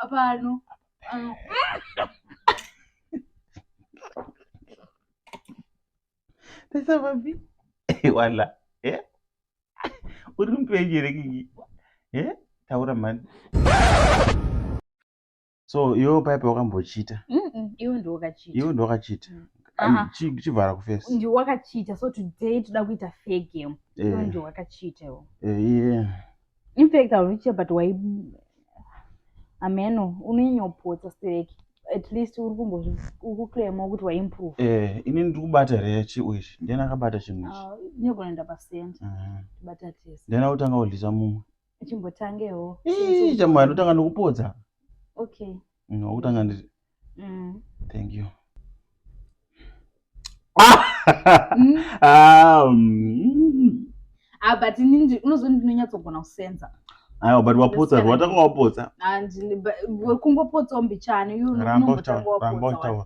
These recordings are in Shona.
Pano. Pano. Pesa papi? Wala. Eh? Uri mpenyu here kiki? Eh? Taura mani. So, iwe paipa wakambochita? Mm -mm, iwe ndiwe wakachita. Iwe ndiwe wakachita. Mm. chivhara kufesi ndi wakachita so today toda kuita fair game eh. ndo wakachita iwo eh, In fact, I'll reach but why? Ameno, unonyopotsa stereki. At least uri kumbozvikuclaima kuti waimprove. Eh, ini ndiri kubata here chiu ichi? Ndiani akabata chinhu ichi? Ah, Inogona enda pasenta. Mhm. Bata tese. Ndiani akutanga kudlisa mumwe? Chimbotangewo. Ii, chamwari ndotanga nokupodza. Okay. Mm, wakutanga ndi Mm. thank you Mm. Ah, mm. Ah, but ini ndi- unoziva ndinonyatsogona kusenza aiwa but wapotsa That's rwatanga wapotsa And ba- wekungopotsawo mbichani you ramba unongotanga utaura ramba wapotsa utaura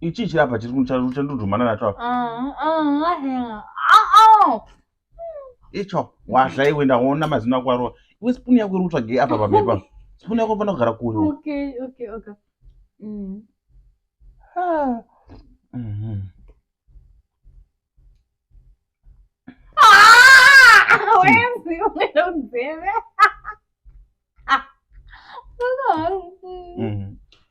ichi chirapa chiri chandodhumana nacho apa icho wazva iwe ndaona mazino ako arova iwe spuni yako iri kutsvagei apa pamhepa spuni yako fanira kugara kuyo mm. mm-hmm.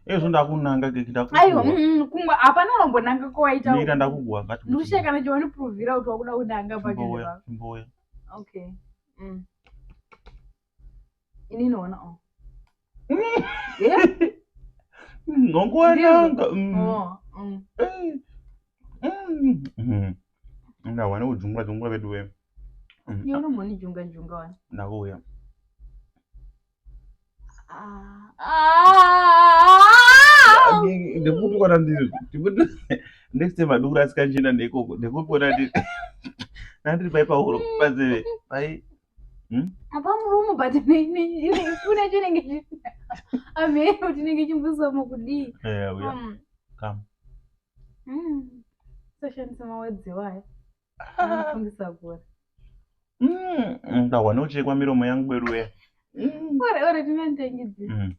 ezvo ndakunanga kekitaaiwa mm, mm, kumwe hapana vambonanga kowaitaira ndakuguwa kati ndikushaya kana chiwaniprovhira kuti wakuda kunanga pakeimboya okay mm. inini ona o nongowananga ndawana kujungwa jungwa vedu we unombonijunga junga wani ndakuuya ndekuti kona ndiri next time adukura asikanjina ndekoko ndekuti kona ndiri nandiri pai pahuro panzeve pai Hmm? apa murumu but funa chinenge amhero tinenge chimbusomo kudii eh, um, hmm. soshandisa mawedzi wayo anofungisa ah. kura ndahwa hmm, nochekwa miromo yangu beruya ore ore tinandangidzii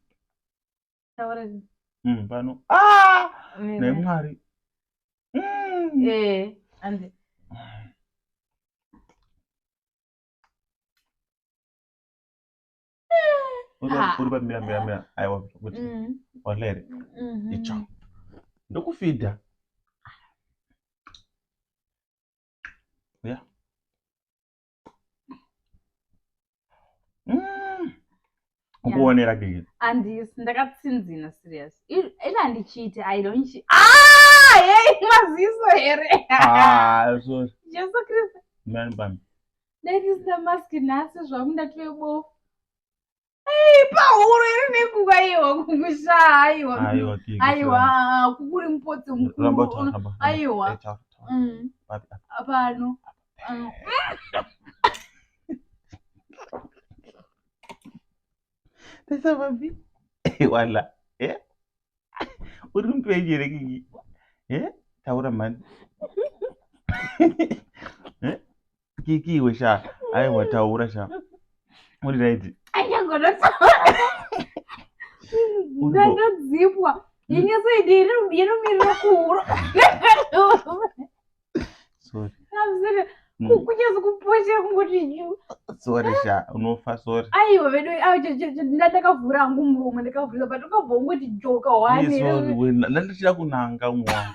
mm, pano ah! mm. nemwari mm. eh, uri pamira mira mira aiwa kuti walere mm-hmm. icho ndokufidha mm. ukuonera dii andisi ndakatsinzina serious ila handichiiti i don't chi ah hey maziso here ah so jesu kristu mani bami ndaitisi ndamaski nhasi zvangu ndatove bofu pahuro iri nekuka aiwa kukusa aiwa aiwa kukuri mupotsi mukuru aiwa mm. pano mm. Tasababi. Eh, wala. Eh? Uri mtu ejere kiki. Eh? Taura man. Eh? kiki iwe sha ayi wataura sha uri right ndatodzipwa inyeso idi inomirira kuhuro kunyazi kupochera kungoti sori sha unofa sori aiwa vedu ndandakavhura hangu muromo ndakavhura but ukabva ungoti joka wanendandichida kunanga umwe wangu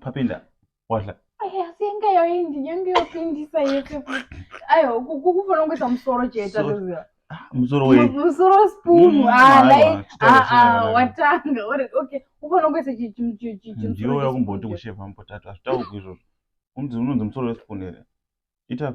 papinda wadla asi yanga yoindi yanga yopindisa yese ayo kukufanira kungoisa musoro chete ndoziva ah, musoro we musoro spoon mm, ah like ah ah watanga uri okay ufanira kungoisa chimusoro ndiyo yakumboti kusheva mupotatu hazvitaurwi izvozvo unzi unonzi musoro wespoon here ita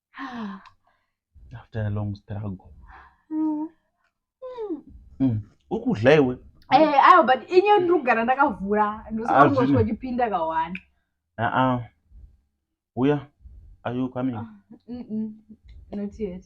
after a long struggle mm. Mm. ukudla iwe eh, ayo but inye ndikugara ndakavhura ndosangoswa chipinda kawana aa uya are you coming ah, not yet